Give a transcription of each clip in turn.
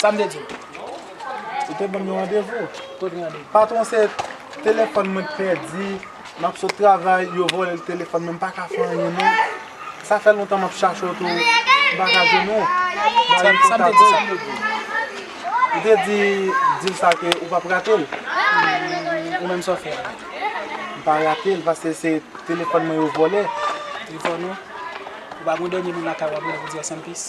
Sa m te di w? Ou te ban m yon randevou. Kot randevou? Patwon se telefòn mwen t pèdi, m ap sot travay yo vòlè telefòn mwen m pa ka fè anyen non. Sa fè lontan m ap chache w tou m pa ka jwenn ou. Sa m te di w? Ou te di di l sa ke ou p ap rate l. Ou menm sa w fè a la? M pa rate l paske se telefòn mwen yo vòlè. Trifò non. Ou pa gon dènye moun lakay w ap rele pou di w sanpis?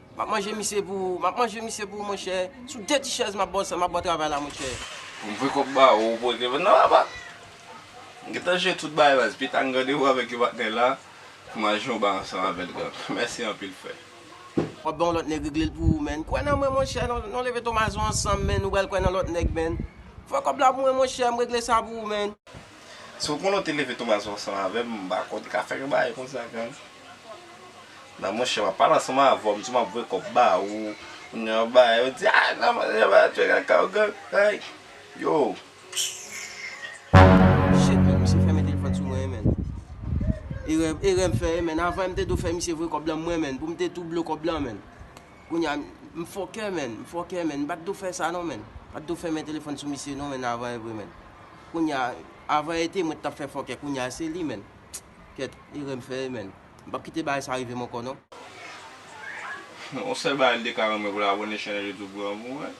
Map manje misye pou ou Map manje misye pou ou monchè Sou de ti chèz map baw map baw travay la monchè. Poum fè kòb ba ou ou pote vant nan apa? M gentan jwe tout bagay la dpi tann randevou avèk yon patnè la pou mal jwe yon ba ansanm avèl gang mèsi anpil frè. Wap bay yon lòt nèg reglel pou ou menn kwè nan mwen monchè non leve tomazon ansanm menn ou pral kwè nan lòt nèg menn fè kòb la pou mwen monchè m regle sa pou ou menn. Si ou konnen ou te leve Thomas ansanm avèm m pa kwè ou te ka fè yon bagay konsa gang nan monchè map pale ansanm avèw m di map voye kòb ba ou ou gen yon bagay ou di ah nan monchè m pral tcheke ak ou gang hey yow. Shit man misye fèmen telefòn sou mwen man Erè erè m fè man avan m te do fè misye voye kòb lan mwen man pou m te tou blo kòb lan man. Kounya m fòkè menn, m fòkè menn, m pa t do fè sa non menn, m pa t do fèmen telefòn sou misye non menn avan e vre menn. Kounya, avan e te mwen t ap fè fòkè, kounya se li menn. Kèt, erè m fè e menn. M p ap kite bagay sa rive m ankò non. Yon sèl bagay m te ka renmen pou l abòne chèn Youtube Granmoun an.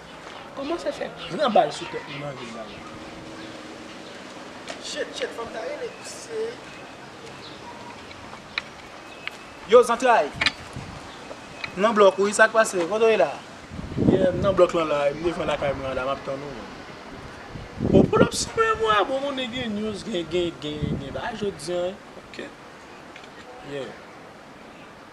Koman se fè gran bal sou tèt moun anvil la la. Chet chet fanm sa rele se. Yow zantray M nan blòk wi sak pase kote w ye la. Yeah m nan blòk lan la m devan lakay mwen an la map tann ou. Bon pull up sou mwen mwen bon moun e gen news gen gen gen gen bagay jodi an ok yeah.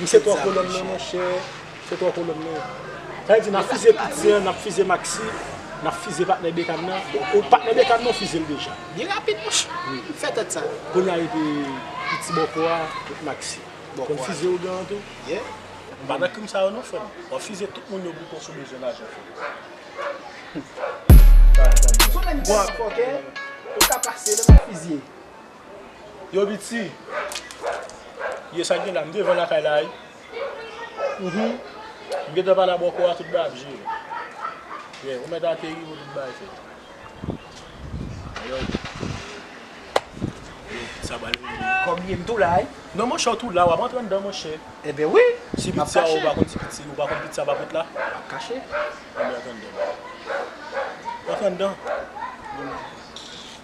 Wi se tro kolonn nan monchè se tro kolonn nan sa vle di nap fize tout zen an nap fize maxi nap fize patnè bekam nan bon patnè bekam nan ou fizel deja byen rapid monchè ou fè tèt sa kounya epi piti bòkò a et maxi konn fize ougan an tou ou pa nan krim sa yo non frèm wap fize tout moun yo bouton sou bezwen lajan frèm. Yo piti. Ye sak gen la m devan lakay la wi humm m gentan pale a bòkò a tout bagay ap jere yeah ou mèt ateri pou tout bagay fèt alòs yeah sa pral vini wi kòm li ye m tou la wi non monchè w tou la wap antre anndan monchè enben wi si pit sa ou pa konn si pit si ou pa konn pit sa pap ret la map kache anben antre anndan antre anndan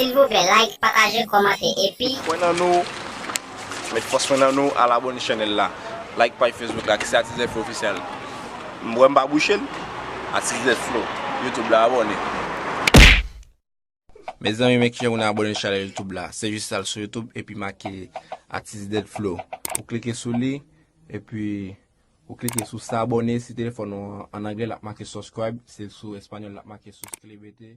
Silvouplè like pataje kòmante epi. Pwen nan nou Met fòs pwen nan nou al abone channel la like paj facebook la ki se atis Zefflo official m wè m pa bouchel atis Zefflo youtube la abone. Mezanmi men kijan moun abone chanel youtube la se jis al sou youtube epi make atis dèd flow ou klike sou li epi ou klike sou sa abone si telefòn ou an anglè lap make subscribe si l sou español lap make suscríbete.